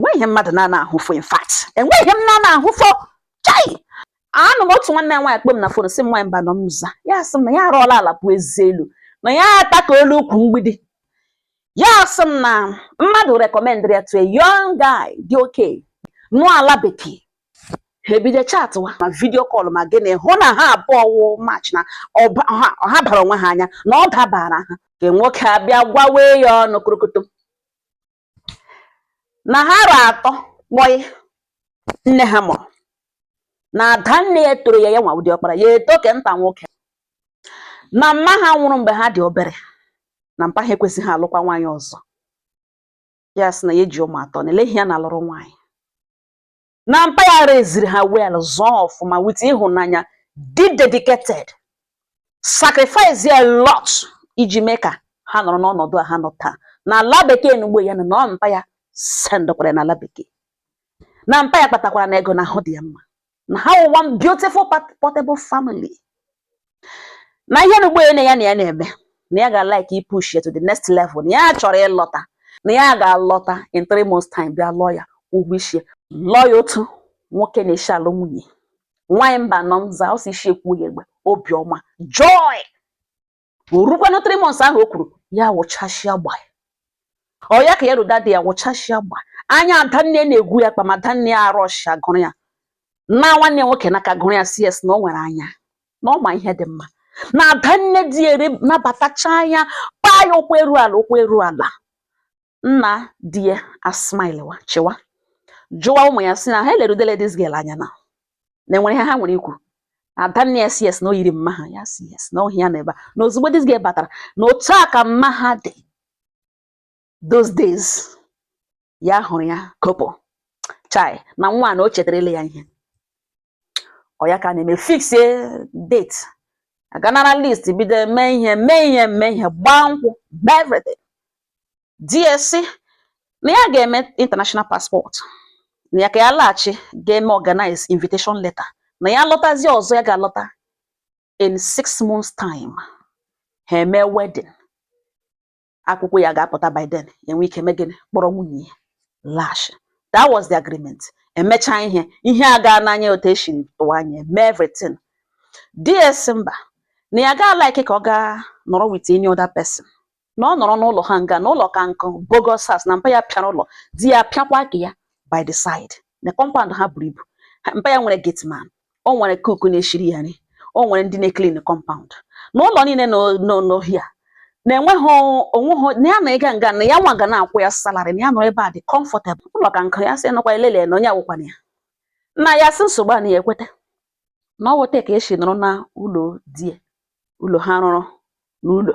enweghị ihe mmadụ na-ana ahụfo in fact enweghị ihe m na-ana ahụfo chai anọ m otu nwanne nwaanyị kpọọ m na fon sị m nwaanyị mbanọ m za ya sị m na ya arụọla ala pụọ ezi elu na ya ata ka olu ukwu mgbidi ya sị m na mmadụ rekọmendịrị ya to a young guy dị okay nọ ala bekee ha ebido chatịwa ma video call ma gịnị hụ na ha abụọ wụ match na ha bara onwe ha anya na ọ dabara ha ke nwoke abịa gwawe ya ọnụ korokoto na ha ra atọ kpọị nne ha mụrụ na ada nne ya tọrọ ya ya nwa wụ di ọkpara ya etọ ke nta nwoke na mma ha nwụrụ mgbe ha dị obere na mpa ha ekwezighị alụkwa nwaanyị ọzọ ya sị na ya ji ụmụ atọ na elee ihe ya na-alụrụ nwaanyị na mpa ya raisịrị ha well zụọ ọfụma with ịhụnanya dị dedicated sacrifice a lot iji mee ka ha nọrọ n'ọnọdụ a ha nọ taa na ala bekee na ugbo ya nọ na ọ mpa ya sendịkwara na ala bekee na mpa ya kpatakwarana ego na ahụ dị ya mma na ha wụ one beautiful portable family na ihe na ugbo ya na ya na-eme na ya ga-like ipush ya to the next level na ya chọrọ ịlọta na ya ga-alọta in three months time bịa lụọ ya ụgwọ isi lụọ ya otu nwoke na-esi alụ nwunye nwaanyị mbanọ m zaa ọsọ isi ekwu ya egbe obiọma joy orukwanụ three months ahụ o kwuru ya wụchasịa gba ọ ya ka ya ruda dị ya wụchasịa gba anya adanne na-egwu ya kpa ma adanne ya arọshia gụrụ ya naa nwanne nwoke n'aka gụrụ ya sị sị na o nwere anya na ọ ma ihe dị mma na ada nne di ya nabatachaa ya paa ya ụkwụ eru ala ụkwụ eru ala nna di ya asmilewa chịwa jụwa ụmụ ya sị na ha elerudele this girl anya na na enwere ihe ha nwere ikwu ada nne ya sị sị na o yiri mma ha ya sị sị na ọhịa ya na ebe a na ozugbo this girl batara na otu a ka mma ha dị those days ya hụrụ ya kopo chai na nwa na o chetarele ya ihe ọ ya ka a na-eme fixie date a gaa nara list bido mee ihe mee ihe mee ihe gbaa nkwụ gbaa everything di ya sị na ya ga-eme international passport na ya ka ya laghachi ga-eme organize invitation letter na ya lọtazi ọzọ ya ga-alọta in six months time ha eme wedding akwụkwọ ya ga-apụta by then e nwee ike mee gịnị kpọrọ nwunye ya lash that was the agreement emechaa ihe ihe a gaa n'anya otu esiri tụwa anya eme everything di ya sị mba na ya agaa like ka ọ gaa nọrọ with any other person na ọ nọrọ n'ụlọ ha nga na ụlọ ka nkụ bogus house na mpa ya pịara ụlọ di ya pịakwa ke ya by the side na compound ha buru ibu mpa ya nwere gateman o nwere cook na-eshiri ya nri o nwere ndị na-eclean compound na ụlọ niile n'ohia na enweghị onweghị na ya na ịga nga na ya nwa ga na-akwụ ya salary na ya nọrọ ebe a dị comfortable ụlọ ka nkụ ya sị nọkwa elele na onye awụkwana ya na ya sị nsogbu a na ya ekweta na ọ wụ otu a ka e shi nọrọ na ụlọ di ya ụlọ ha rụrụ n'ụlọ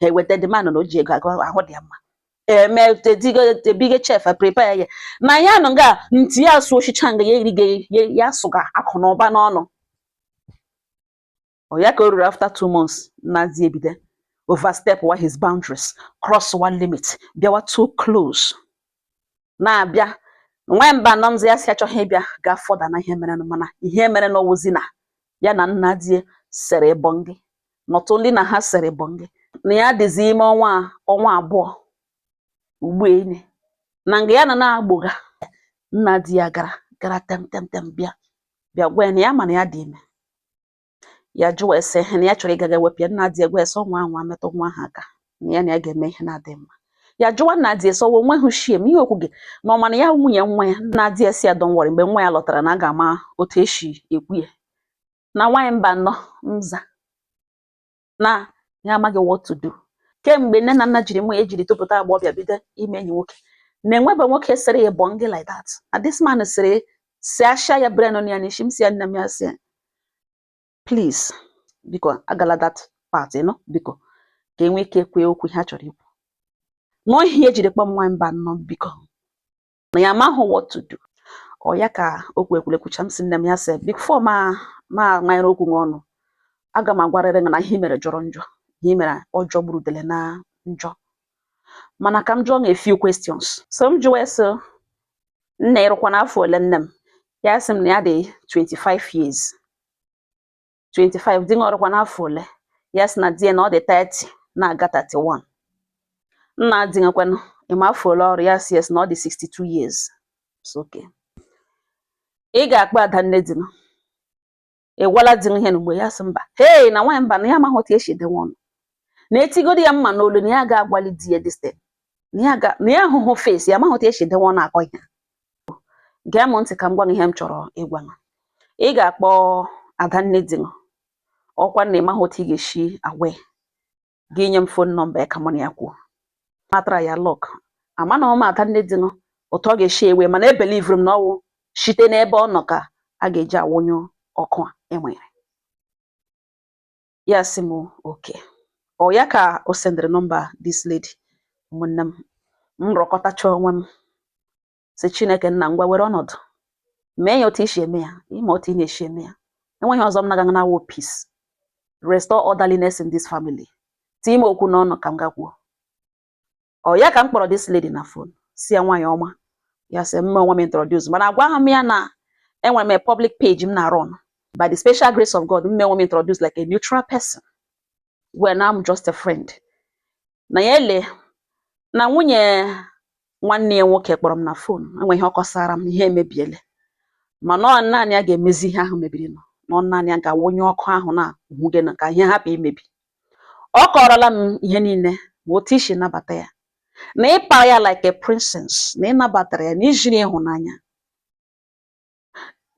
ha eweta the man na o ji ego ahụ dị ya mma eme big chef prepare ya na ya nọ nga nti ya asụ oshicha nga ya erigo ya asụga akụ na ụba n'ọnụ ọ ya ka o ruru after two months nna di ebido overstepwa his boundaries crosswa limit bịawa too close na-abịa nwaanyị mbanọ mzi ya sị achọghị ịbịa go further na ihe merenụ mana ihe merenụ wụzi na ya na nna di ya sere bọngị not only na ha sere bọngị na ya dịzi ime ọnwa abụọ ugbu enyi na nga ya na na-agbọga nna di ya gara gara tem tem tem bịa bịa gwa ya na ya ma na ya dị ime ya jụọ ya sị na ya chọrọ ịgaga wepụ ya nna di ya agwa ya sị ọ nwaa anwa metụ nwa ahụ aka na ya na ya ga-eme ihe na-adịghị mma ya jụwa nna di ya sị ọ wụ o nwehụ shame ihe o kwuga na ọ ma na ya nwunye nwa ya nna di ya sị ya don't worry mgbe nwa ya lọtara na a ga-ama otu e si ekwu ya na nwaanyị mbanọ nza na ya amaghị what to do kemgbe nne na nna jiri mụọ ya jiri topụta agbọghọbịa bido ime enyi nwoke na e nwebe nwoke sere ya bọngị like that na this man sere si asha ya brain ya n'isi m sị ya nne m ya sị ya please biko agala that part nọ biko ka e nwee ike kwuo okwu ha chọrọ ikwu nọọ ihe e jiri kpọọ m nwa mbanọ biko na ya amaghị what to do ọ ya ka okwu ekwulekwucha m sị nne m ya sị before m amanyere okwu gị ọnụ aga m agwarịrị gị na ihe mere jọrọ njọ ihe mere ọ jọgburu udele na njọ mana ka m jụọ gị a few questions so m jụwa ya sị nne i rukwana afọ ole nne m ya sị m na ya dị 25 years 25 di gị o rukwana afọ ole ya sị na di ya na ọ dị 30 na-aga 31 nna di gị kwanụ ị ma afọ ole o ruru ya sị yes na ọ dị 62 years m sị okay ị ga-akpọ adanne di gị ị gwala di gị ihe n'ugbo ya sị mba hei na nwaanyị mbanọ ya amaghị otu e si edewe ọnụ na e tigodi ya mma n'olu na ya agaghị agwali di ya this thing na ya ahụhụ face ya amaghị otu e si edewe ọnụ akọ ihe gee m ntị ka m gwa gị ihe m chọrọ ịgwa gị ị ga-akpọ adanne di gị ọ kwa na ị maghị otu ị ga-esi agwa ya gị nye m phone number ya ka mụ na ya kwuo m atry ya luck amanahụ m adanne di gị otu ọ ga-esi ewe mana ebelivuru m na ọ wụ site n'ebe ọ nọ ka a ga-eji awụnyụ ọkụ a e nwere ya sị m okay ọ ya ka o sendịrị nọmba this lady ụmụnne m m rọkọtacha onwe m sị Chineke nna ngwa were ọnọdụ mee ya otu i si eme ya ị ma otu ị na-esi eme ya enweghị ọzọ m na-aga na-awụ peace restore orderliness in this family tie m okwu n'ọnụ ka m gaa kwuo ọ ya ka m kpọrọ this lady na phone sị ya nwaanyị ọma ya sị m mee onwe m introduce mana agwahụ m ya na enwere m a public page m na-run by the special grace of God m mee onwe m introduce like a neutral person when I'm just a friend na ya ele na nwunye nwanne ya nwoke kpọrọ m na phone enweghị ihe ọ kọsara m ihe emebiele mana ọ naanị ya ga-emezi ihe ahụ mebirinụ na ọ naanị ya ga-awụnyụ ọkụ ahụ na uhugena ka ihe hapụ imebi Ọ kọọrọla m ihe niile ma otu i si nabata ya, na ị para ya like a princess, na ị nabatara ya na i ziri ịhụnanya,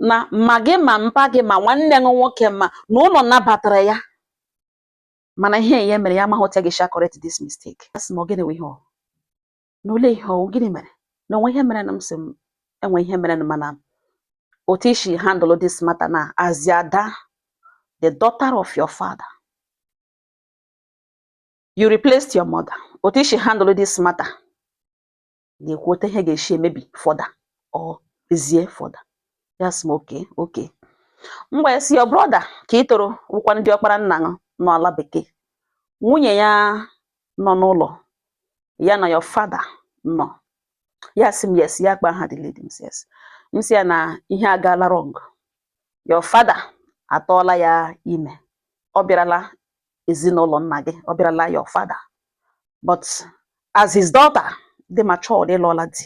na ma gị ma mpa gị ma nwanne gị nwoke ma na ụlọ nabatara ya mana ihe ya mere ya amaghị otu a ga-esi correct this mistake. Asị m ọ gịnị wụ ihe ọhụ? na olee ihe ọ wụ gịnị mere na o nwe ihe merenụ m sị e nwe ihe merenụ mana otu i si handle this matter na as the ada the daughter of your father you replaced your mother otu i si handle this matter na-ekwu otu ihe ga-esi emebi further or ezie further ya sị m okay okay m wee sị your brother ke ị tọrọ wụkwanụ diọkpara nna unu nọ ala bekee nwunye ya nọ n'ụlọ ya na your father nọ ya sị m yes ya kpa aha the lady m sị yes m sị ya na ihe agaala wrong your father atụọla ya ime ọ bịarala ezinụlọ nna gị ọ bịarala your father but as his daughter dị matured ị lụọla di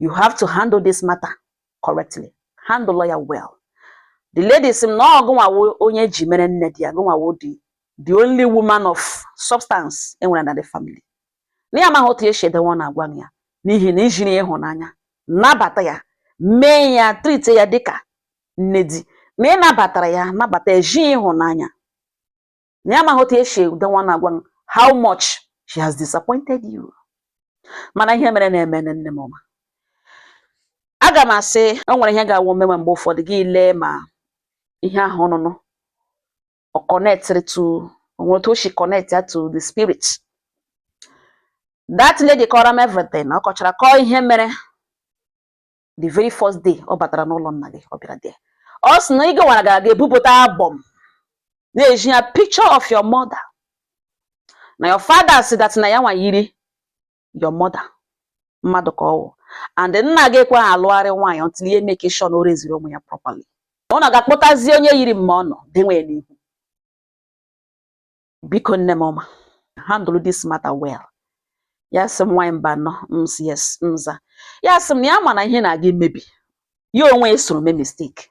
you have to handle this matter correctly handle ya well the lady sị m na ọ gụnwa wụ onye e ji mere nne di ya gụnwa wụ the the only woman of substance e nwere na the family na ya amaghị otu e si edewe ọnụ agwa ya n'ihi na i ziri ya ịhụnanya nabata ya mee ya treatie ya dịka nne di na ị nabatara ya nabata ezi ya ịhụnanya na ya amaghị otu e si edewe ọnụ agwa how much she has disappointed you mana ihe merenụ emee nne m ọma aga m asị o nwere ihe ga-awụ o mewe mgbe ụfọdụ gị lee ma ihe ahụ ọnụnụ ọ connectịrị to o nwere otu o si connectia to the spirit that lady kọrọ m everything ọ kọchara kọọ ihe mere the very first day ọ batara n'ụlọ nna gị ọ bịara there ọ sị na ị gawara gara ga-ebupụta album na-ezi ya picture of your mother na your father said that na ya nwa yiri your mother mmadụ ka ọ wụ and nna gị ekwe alụgharị nwaanyị until he make sure na o reziri ụmụ ya properly ọ na ga-akpọtazi onye yiri mma unu denwe ya n'ihu biko nne m ọma handle this matter well ya sị m nwaanyị Mbano m sị yes m za ya sị m na ya ma na ihe na-aga imebi ya onwe ya soro mee mistake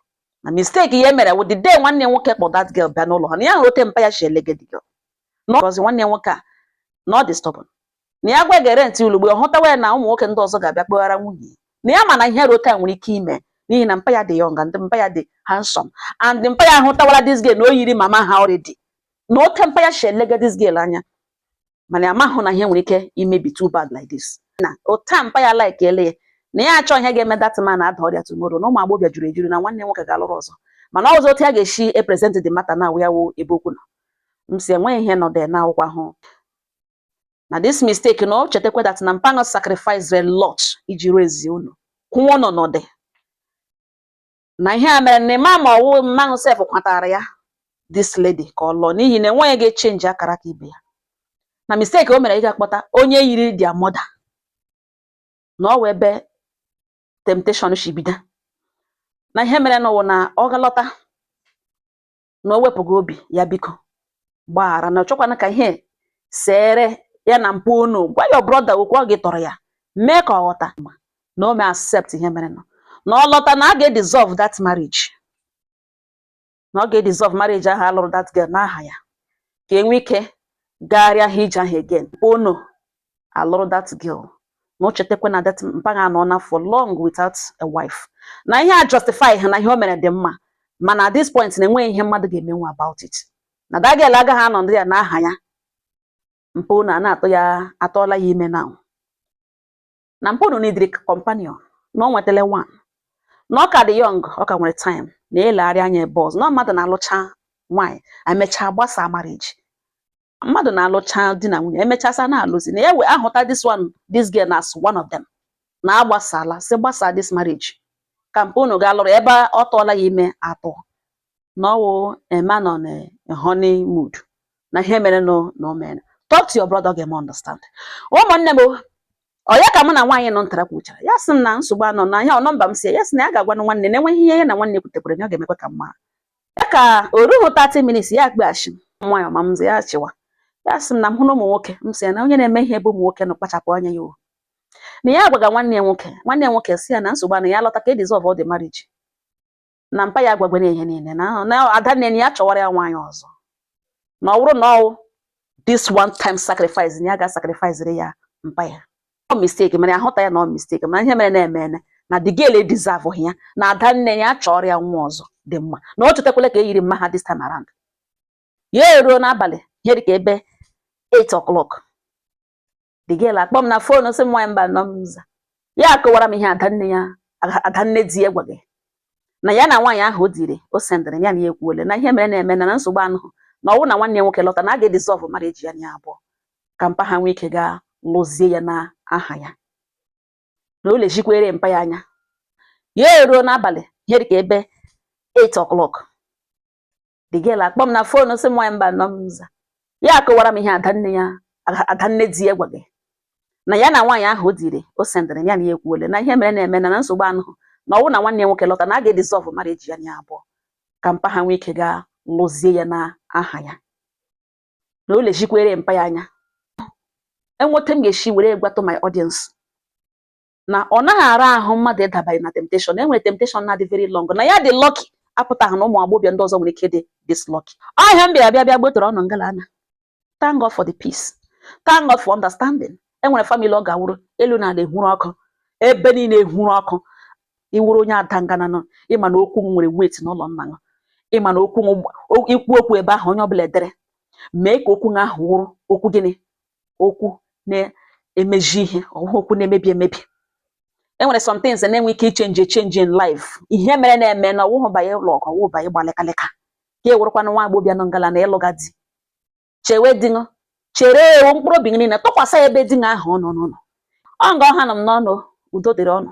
na mistake ya mere wụ the day nwanne nwoke kpọ that girl bịa n'ụlọ ha na ya hụrụ otu mpa ya shi elege the girl na ọ because nwanne nwoke a na ọ dị stubborn na ya gwa gere ntị ulugbe ọ hụtawa ya na ụmụ nwoke ndị ọzọ ga-abịa kpọghara nwunye na ya ma na ihe rota nwere ike ime n'ihi na mpa ya dị young and mpa ya dị handsome and mpa ya ahụtawala this girl na o yiri mama ha already na otu mpa ya shi elega this girl anya mana ya amahụ na ihe nwere ike imebi too bad like this na ota mpa ya like ele ya na ya achọ ihe ga-eme that man ada ọrịa tomorrow na ụmụ agbọghọbịa juru ejuru na nwanne nwoke ga-alụrụ ọzọ mana ọzọ otu ya ga-esi epresent the matter na awụ ya wụ ebe okwu nọ m sị enweghị ihe nọ there n'akwụkwọ ahụ na this mistake na o chetakwa that na mpa unu sacrificere a lot iji raise unu kwụọ n'ọnọdụ na ihe a mere na ịma ma ọwụ mma unu sef kwatara ya this lady ka ọ lụọ n'ihi na enweghị onye ga-echenji akaraka ibe ya na mistake o mere ị ga-akpọta onye yiri their mother na ọ wụ ebe temptation shi bido na ihe merenụ wụ na ọ ga-alọta na o wepụghị obi ya biko gbaghara na ọ chọkwana ka ihe seere ya na mpa unu gwa your brother okwu ọ gị tọrọ ya mee ka ọ ghọta na o mee accept ihe merenụ na ọ lọta na a ga-edissolve that marriage na ọ ga-edissolve marriage ahụ a lụrụ that girl n'aha ya ka e nwee ike gagharịa ha ije ahụ again mpa unu alụrụ that girl na o chetakwa na that mpa ha anọna for long without a wife na ihe a justify ha na ihe o mere dị mma mana at this point na enweghị ihe mmadụ ga-emenwu about it na that girl agaghị anọ there n'aha ya mpa unu na-atụ ya atụọla ya ime na na mpa unu needịrị companion na ọ nwetala one na ọ ka dị young ọ ka nwere time na o legharịa anya ebe ọzọ na mmadụ na-alụcha nwaanyị emechaa gbasaa marriage mmadụ na-alụcha di na nwunye emechaa sị na alụzi na ya wee ahụta this one this girl as one of them na a gbasala sị gbasaa this marriage ka mpa unu ga lụrụ ebe ọ tụọla ya ime atọ na ọwụ ema nọ na honeymoon na ihe merenụ na o mere talk to your brother ga-eme understand ụmụnne m onye ka mụ na nwaanyị nọ ntara kwuchara ya sị m na nsogbu anọ na ihe ọ nọmba m si ya sị na ya ga-agwanụ nwanne na enweghị ihe ya na nwanne kwutekwara ya ọ ga-emekwa ka mma ya ka o ruhu 30 minutes ya akpọghachi m nwaanyị ọma m ya achịwa ya sị m na m hụ na ụmụ nwoke m sị ya na onye na-eme ihe ebe ụmụ nwoke nọ kpachapụ anya ya o na ya agwaga nwanne ya nwoke nwanne ya nwoke sị ya na nsogbu anọhụ ya lọta ka e dissolve the marriage na mpa ya agwagwere ihe niile na ada nne ya chọwara ya nwaanyị ọzọ na ọ bụrụ na ọ wụ this one time sacrifice na ya ga-sacrificere ya mpa ya ọ mistake mana ahụta ya na ọ mistake mana ihe merena emena the girl deserve ya na ada nne ya chọrọ ya nwa ọzọ dị mma na ọ chọtakwala nke yiri mma ha this time around ya eruo n'abalị ihe dịka ebe 8 o'clock the girl akpọ m na phone sị m nwaanyị Mbano m aza ya akọwara m ihe adanne ya adanne di ya gwara ya na ya na nwaanyị ahụ audio o sendịrị ya na ya ekwuole na ihe merena emena na nsogbu anọhụ na ọ wụ na nwanne ya nwoke lọta na a ga-edissolve marriage ya na ya abụọ ka mpa ha nwee ike gaa lụzie ya n'aha ya na o lezikwere mpa ya anya ya eruo n'abalị ihe dịka ebe 8 o'clock the girl akpọ m na phone sị m nwaanyị Mbano m aza ya akọwara m ihe adanne ya adanne di ya gwara ya na ya na nwaanyị ahụ audio o sendịrị ya na ya ekwuole na ihe merena emena na nsogbu anọhụ na ọ wụ na nwanne ya nwoke lọta na a ga-edissolve marriage ya na ya abụọ ka mpa ha nwee ike gaa lụzie ya n'aha ya na o lezikwere mpa ya anya e nwe etu m ga-esi were gwatụ my audience na ọ naghị ara ahụ mmadụ ịdabanye na temptation na enwere temptation na-adị very long na ya dị lucky apụtaghị na ụmụ agbọghọbịa ndị ọzọ nwere ike dị this lucky ọ ihe a m bịara bịa bịa gbetụrụ ụnụ ngala ana thank God for the peace thank God for understanding enwere family ọ ga-awụrụ elu na ala ehuru ọkụ ebe niile ehuru ọkụ ị wụrụ onye ada ngana nọ ị ma na okwu nwere weight n'ụlọ nna gị ị ma na okwu ị kwuo okwu ebe ahụ onye ọbụla edere mee ka okwu gị ahụ wụrụ okwu gịnị okwu na-emeji ihe ọwụhụ okwu na-emebi emebi e nwere some things na-enwe ike ịchange echange in life ihe merena emena ọwụhụ banye lụọ ọgụ ọwụhụ banye gbaa lịkalịka ka e nwerekwana nwa agbọbịa nọ ngala na ịlụga di chewe di ṅụ chere ewu mkpụrụ obi gị niile tụkwasị ebe di ṅụ ahụ ọnụ n'ụlọ ọ nga ọ hanụ mụ na ụnụ udo dịrị ụnụ